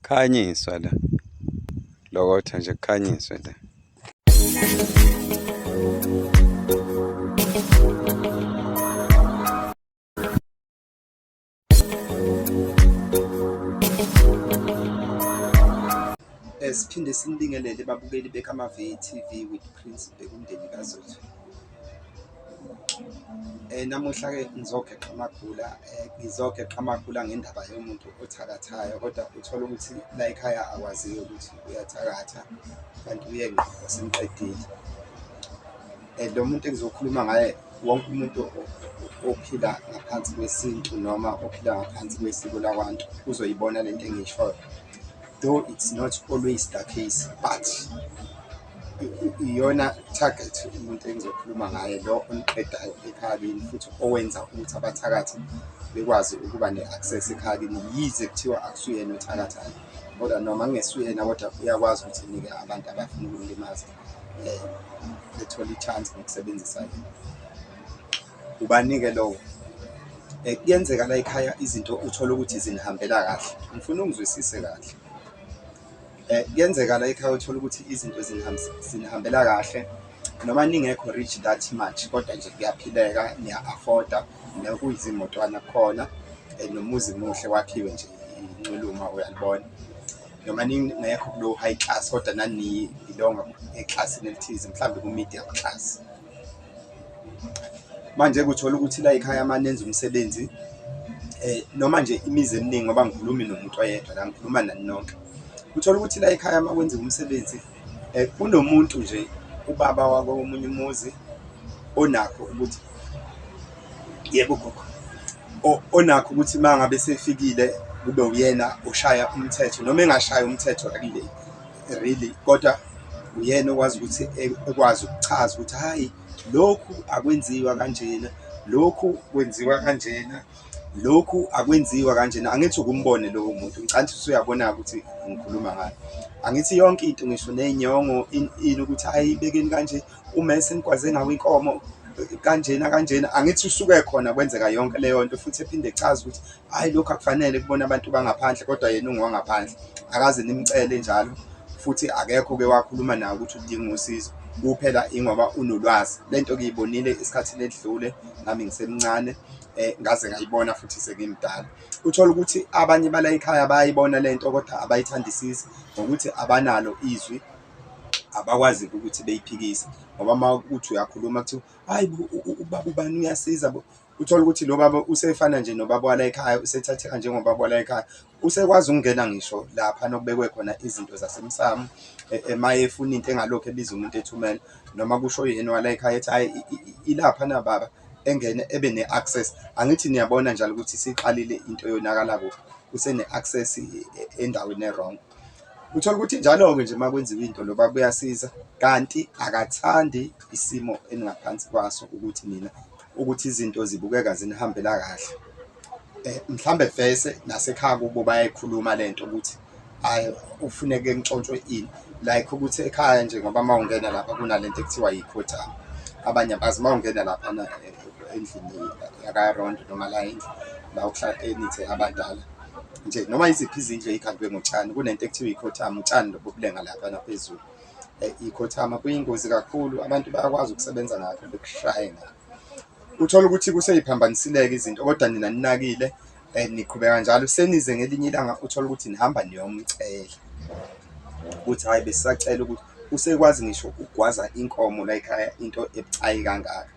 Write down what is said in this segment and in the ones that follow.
kukhanyiswa la lokotha nje kukhanyiswe la Eh, siphinde sinibingelele babukeli bekamave TV with Prince bekumndeni kaZothu. Eh namuhla ke ngizogeqa amagula eh ngizogeqa amagula ngendaba yomuntu othakathayo kodwa uthola ukuthi la ekhaya akwaziyo ukuthi uyathakatha kanti uyengqondo semqedile. And lo muntu engizokhuluma ngaye wonke umuntu ophila ngaphansi kwesintu noma ophila ngaphansi kwesiko lakwantu uzoyibona lento engiyishoyo though it's not always the case but iyona target umuntu engizokhuluma ngaye lo oniqedayo ekhaya kini futhi owenza ukuthi abathakathi bekwazi ukuba ne-access ekhaya kini yize kuthiwa akusuyena othakathayo kodwa noma kungesuyena kodwa uyakwazi ukuthi nike abantu abafuna ukumlimaza eh ethola ichance ngokusebenzisa yena ubanike lowo eh kuyenzeka la ekhaya izinto uthola ukuthi zinihambela kahle ngifuna ungizwisise kahle eh kuyenzeka la ekhaya uthola ukuthi izinto zinihambela kahle noma ningekho rich that much kodwa nje kuyaphileka niya afforda nokuyizimotwana khona eh, nomuzi muhle wakhiwe nje inculuma uyalibona noma ningekho kulo high class kodwa nani belonga eclassini elithize mhlawumbe ku-medium class manje kuthola ukuthi la ekhaya amanenza umsebenzi eh noma nje imizi eminingi ngoba ngikhulumi nomuntu oyedwa la ngikhuluma nani nonke uthola ukuthi la ekhaya uma kwenziwa umsebenzi Kunomuntu nje ubaba wakomunye umuzi onakho ukuthi yebo gogo onakho ukuthi uma ngabe sefikile kube uyena oshaya umthetho noma engashaya umthetho really really kodwa uyena okwazi ukuthi e, ekwazi ukuchaza ukuthi hhayi lokhu akwenziwa kanjena lokhu kwenziwa kanjena. lokhu akwenziwa kanjena angithi ukumbone lowo muntu ngicanthi usuyabona ukuthi ngikhuluma ngayo angithi yonke into ngisho nenyongo ini ukuthi hayi ibekeni kanje uma esengikwaze ngawo inkomo kanjena kanjena angithi usuke khona kwenzeka yonke leyo nto futhi ephinde echaza ukuthi hayi lokhu akufanele kubona abantu bangaphandle kodwa yena ungowangaphandle akaze nimcele njalo futhi akekho ke wakhuluma naye ukuthi udinga usizo kuphela ingoba unolwazi lento kuyibonile isikhathi ledlule nami ngisemncane eh, ngaze ngayibona futhi sekimdala uthola ukuthi abanye bala ekhaya bayayibona le nto kodwa abayithandisisi ngokuthi abanalo izwi abakwazi ukuthi beyiphikise ngoba uma uthi uyakhuluma kuthiwa hayi ubaba ubani uyasiza bo uthola ukuthi lo baba usefana nje nobaba wala ekhaya usethatheka njengobaba wala ekhaya Usekwazi ukungena ngisho lapha nokubekwe khona izinto zasemsamo uma e, e, efuna into engalokhu ebiza umuntu ethumela noma kusho yena wala ekhaya ethi hayi ilapha na baba engene ebe ne-access angithi niyabona njalo ukuthi siqalile into yonakala kuphi usene-access e, endaweni e-wrong uthola ukuthi njalo-ke nje uma kwenziwa into loba kuyasiza kanti akathandi isimo eningaphansi kwaso ukuthi nina ukuthi izinto zibukeka zinihambela kahle eh mhlambe vese nasekhaya kubo bayayikhuluma lento ukuthi hayi ufuneke ntshontshwe ini like ukuthi ekhaya nje ngoba mawungena lapha kunalento ekuthiwa yikhotha abanye abazi mawungena lapha na eh, endlini yakarondo noma la endlu la ukuhlala enithe abadala nje noma iziphi izindlu eyikhandwe ngotshani kunento ekuthiwa yikhothama utshani lobubulenga lapha naphezulu eh, ikhothama kuyingozi kakhulu abantu bayakwazi ukusebenza ngakho bekushaye ngakho uthola ukuthi kuseyiphambanisileke izinto kodwa nina ninakile um niqhubeka njalo senize ngelinye ilanga uthola ukuthi nihamba niyomcela ukuthi hhayi besisacela ukuthi usekwazi ngisho ukugwaza inkomo la ekhaya into ebucayi kangaka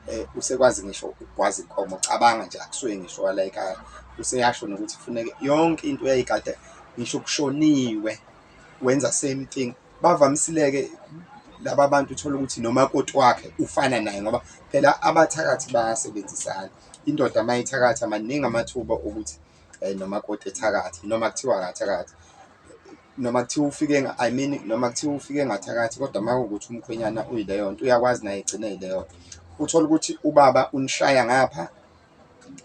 um usekwazi ngisho ukugwaza inkomo cabanga nje akusuke ngisho wala ekhaya useyasho nokuthi kufuneke yonke into eyayikade ngisho kushoniwe wenza same thing bavamisileke laba bantu uthola ukuthi nomakoti wakhe ufana naye ngoba phela abathakathi bayasebenzisana indoda uma ithakatha maningi amathuba okuthi um nomakoti ethakathi noma kuthiwa akathakathi noma kuthiwa ufike i mean noma kuthiwa ufike ngathakathi kodwa uma kuwukuthi umkhwenyana uyileyo nto uyakwazi naye egcine yileyo nto uthole ukuthi ubaba unishaya ngapha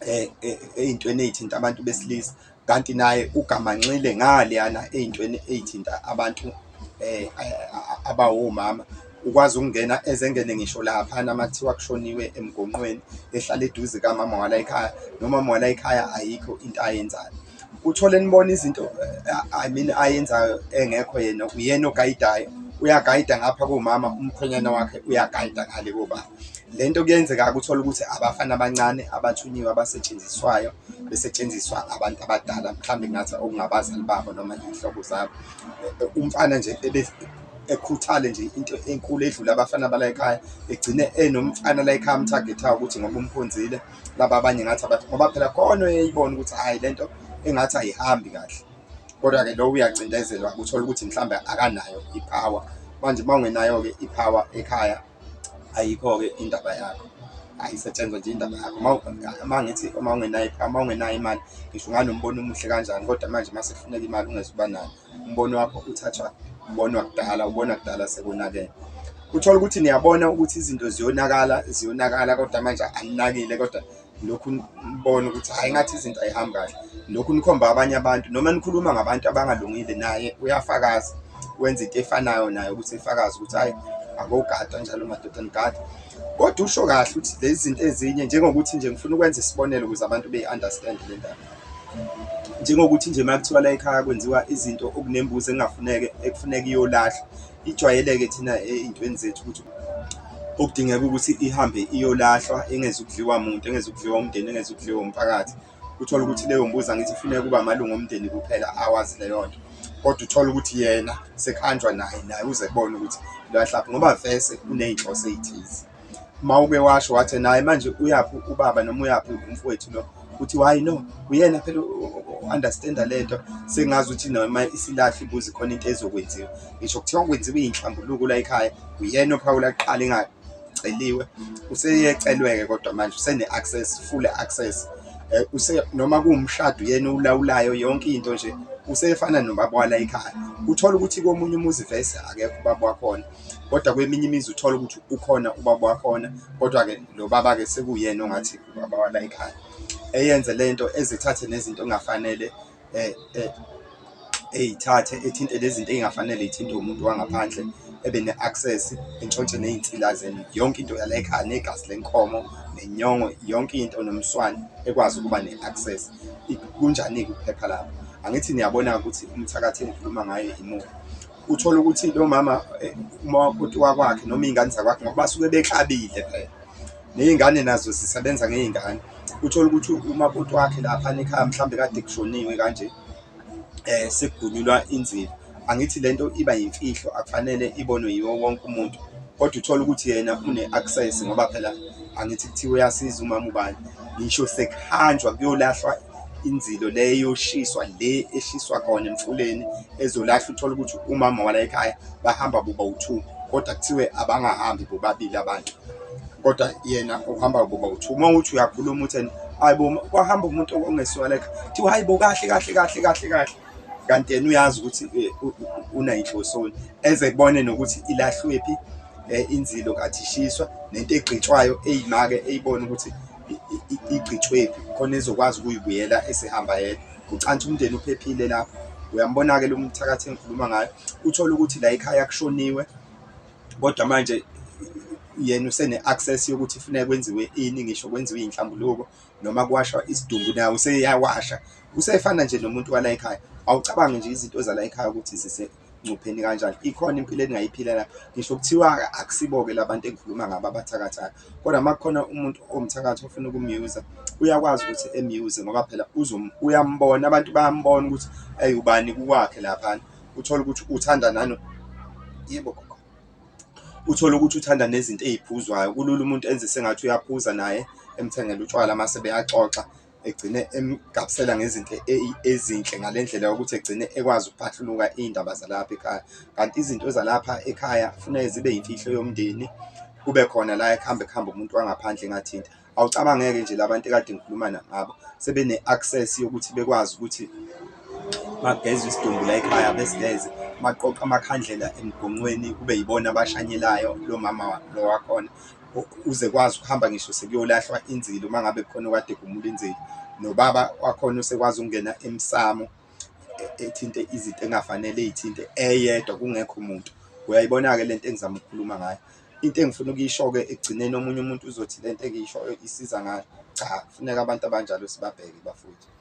eh, eh, ey'ntweni ey'thinta abantu besilisa kanti naye ugamanxile ngaleyana ey'ntweni ey'thinta abantu eh, abawomama ukwazi ukungena ezengene ngisho laphana uma kuthiwa kushoniwe emgonqweni ehlala eduze kamama wala ekhaya nomama wala ekhaya ayikho into ayenzayo uthole nibona izinto I mean ayenzayo engekho yena uyena ogayidayo uyagayida ngapha komama umkhwenyana wakhe uyagayida ngale kobaba le nto kuyenzeka ukuthola ukuthi abafana abancane abathunyiwe abasetshenziswayo besetshenziswa abantu abadala mhlawumbe ngathi okungabazali babo noma iy'hlobo zabo umfana nje ekhuthale nje into enkulu edlula abafana bala ekhaya egcine enomfana la ekhaya amthagethayo ukuthi ngoba umkhonzile laba abanye ngathi abathi ngoba phela khona uyayibona ukuthi hayi lento engathi ayihambi kahle kodwa-ke lo uyacindezelwa uthole ukuthi mhlawumbe akanayo ipower manje uma ungenayo-ke ipower ekhaya ayikho-ke indaba yakho ayisetshenzwa nje indaba yakho uma ngithi uma ungenayo uma ungenayo imali ngisho unganombono omuhle kanjani kodwa manje uma sekufuneka imali ungeze uba nayo umbono wakho uthathwa umbono wakudala umbono wakudala sekonakele uthola ukuthi niyabona ukuthi izinto ziyonakala ziyonakala kodwa manje aninakile kodwa lokhu nibona ukuthi hayi ngathi izinto ayihambi kahle lokhu nikhomba abanye abantu noma nikhuluma ngabantu abangalungile naye uyafakaza wenza into efanayo naye ukuthi efakaze ukuthi hayi akogadwa njalo madoda nigada kodwa usho kahle ukuthi lezi zinto ezinye njengokuthi nje ngifuna ukwenza isibonelo ukuze abantu beyi-understand le ndaba Njengokuthi nje uma kuthiwa la ekhaya kwenziwa izinto okunembuzi engafuneke ekufuneka iyolahlwa, ijwayeleke thina ey'ntweni zethu ukuthi okudingeka ukuthi ihambe iyolahlwa engeze ukudliwa muntu, engeze ukudliwa umndeni, engeze ukudliwa umphakathi. Uthole ukuthi leyo mbuzi angithi ifuneka ukuba amalungu omndeni kuphela awazi leyo nto, kodwa uthole ukuthi yena sekuhanjwa naye, naye uze kubona ukuthi ngoba vese kuney'nhloso ey'thize. Mawube washo wathi naye manje uyaphi ubaba noma uyaphi umfowethu lo uthi why no uyena phela understand lento sengazi ukuthi noma isilahle ibuzi khona into ezokwenziwa ngisho kuthiwa kwenziwe inhlambuluko la ekhaya uyena ophawula kuqala ingaceliwe useyecelweke kodwa manje usene access full access eh, use noma kuwumshado uyena ulawulayo yonke into nje usefana nobaba wala ekhaya uthola ukuthi komunye umuzi vese akekho ubaba wakhona kodwa kweminye imizi uthole ukuthi ukhona ubaba wakhona kodwa-ke lo baba-ke sekuyena ongathi ubaba wala ekhaya eyenze le nto ezithathe nezinto engafanele um eyithathe ethinte lezinto ey'ngafanele ithinte umuntu wangaphandle ebe ne-access entshontshe ney'nsila zenu yonke into yala ekhaya negazi lenkomo nenyongo yonke into nomswane ekwazi ukuba ne-access kunjani-ke ukuphepha lapho angithi niyabona ukuthi umthakathi engikhuluma ngayo imuphi Uthole ukuthi lo mama eh, umakoti wakwakhe noma iy'ngane zakwakhe ngoba basuke beklabile phela ney'ngane nazo zisebenza ngey'ngane uthole ukuthi umakoti wakhe lapha nekhaya mhlawumbe kade kushoniwe kanje um sekugunyulwa inzila angithi le nto iba yimfihlo akufanele ibonwe yiwo wonke umuntu kodwa uthole ukuthi yena une-access ngoba phela angithi kuthiwa uyasiza umama ubani ngisho sekuhanjwa kuyolahlwa inzilo le yoshiswa le eshiswa khona emfuleni ezolahla uthole ukuthi umama wala ekhaya bahamba boba u-two kodwa kuthiwe abangahambi bobabili abantu kodwa yena uhamba boba u-two uma uthi uyakhuluma utheni hayi bo kwahamba umuntu ongesiwalekha kuthiwa hayi bo kahle kahle kahle kahle kahle kanti yena uyazi ukuthi eh, unayinhlosoni eze kubone nokuthi ilahlwephi eh, inzilo kathi ishiswa nento egqitshwayo eyimake eyibona ukuthi igqitshwephi khona ezokwazi ukuyibuyela esehamba yedwa ucansi umndeni uphephile lapho uyambona-ke lo mthakathi engikhuluma ngayo uthole ukuthi la ekhaya kushoniwe kodwa manje yena usene-access yokuthi funeka kwenziwe ini ngisho kwenziwe iy'nhlambuluko noma kuwashwa isidumbu nawo useyawasha usefana nje nomuntu wala ekhaya awucabangi nje izinto zala ekhaya ukuthi engcupheni kanjani ikhona impilo engingayiphila la ngisho kuthiwa akusibo-ke la bantu engikhuluma ngabo abathakathayo kodwa uma kukhona umuntu owumthakathi ofuna ukumyuza uyakwazi ukuthi emyuze ngoba phela uyambona abantu bayambona ukuthi eyi ubani kukwakhe laphana uthole ukuthi uthanda nani yebo gogo uthole ukuthi uthanda nezinto eziphuzwayo kulula umuntu enze sengathi uyaphuza naye emthengele utshwala mase beyaxoxa egcine emgabisela ngezinto e-, ezinhle ngale ndlela yokuthi egcine ekwazi ukuphahluluka iy'ndaba zalapha ekhaya kanti izinto zalapha ekhaya kufuneke zibe yimfihlo yomndeni kube khona la ekuhambe kuhambe umuntu wangaphandle engathinta awucabangeke nje labantu ekade ngikhuluma ngabo sebene-access yokuthi bekwazi ukuthi bageze isidumbu la ekhaya besigeze baqoqa amakhandlela emgonqweni kube yibona abashanyelayo lo mama lo wakhona uze kwazi ukuhamba ngisho sekuyolahlwa inzilo uma ngabe khona okade egumula inzilo nobaba wakhona usekwazi ukungena emsamo e-, ethinte izinto engafanele eyithinte eyedwa kungekho muntu uyayibona-ke le nto engizama ukukhuluma ngayo into engifuna ukuyisho-ke ekugcineni omunye umuntu uzothi le nto engiyishoyo isiza ngayo cha kufuneka abantu abanjalo sibabheke bafowethu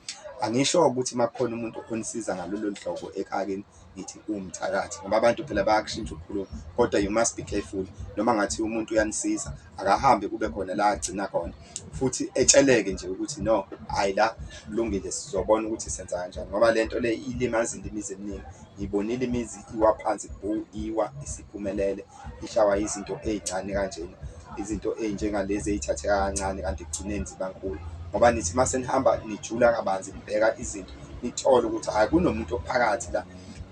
Angisho ukuthi uma kukhona umuntu onisiza ngalolo hlobo ekakeni ngithi uwumthakathi ngoba abantu phela bayakushintsha ukukhuluma kodwa you must be careful noma ngathi umuntu uyanisiza akahambe kube khona la agcina khona futhi etsheleke nje ukuthi no hayi la kulungile sizobona ukuthi senza kanjani ngoba le nto le ilimazile imizi eminingi ngibonile imizi iwa phansi bhu iwa isiphumelele ihlawa izinto ey'ncane kanjena, izinto ey'njengalezi ey'thatheka kancane kanti ekugcineni ziba nkulu ngoba nithi uma senihamba nijula kabanzi nibheka izinto nithole ukuthi hhayi kunomuntu ophakathi la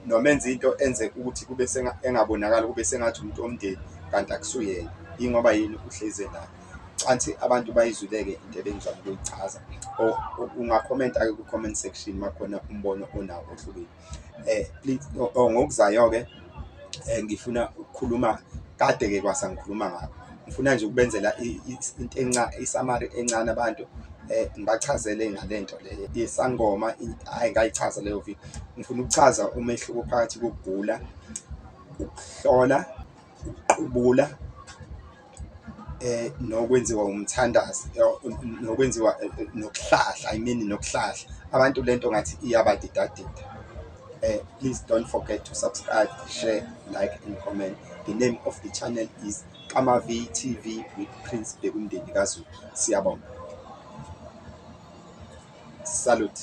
noma enza into enze ukuthi kube engabonakali kube sengathi umuntu omndeni kanti akusuyena yingoba yini uhleze nayo canthi abantu bayizuleke into ebengizama ukuyichaza or ungakhomenta-ke ku-comment section uma khona umbono onawo ohlukile. eh oh, ngokuzayo-ke um ngifuna ukukhuluma kade-ke kwasa ngikhuluma ngakho ngifuna nje ukubenzela into enca isamari encane abantu eh ngibachazele ngalento le yesangoma hayi ngayichaza leyo video ngifuna ukuchaza umehluko phakathi kokugula ukuhlola ukuqubula eh nokwenziwa umthandazi eh, nokwenziwa eh, eh, nokuhlahla i mean nokuhlahla abantu lento ngathi iyabadidadida eh please don't forget to subscribe share like and comment the name of the channel is Kama V TV with Prince Bekumndeni kaZulu siyabonga salute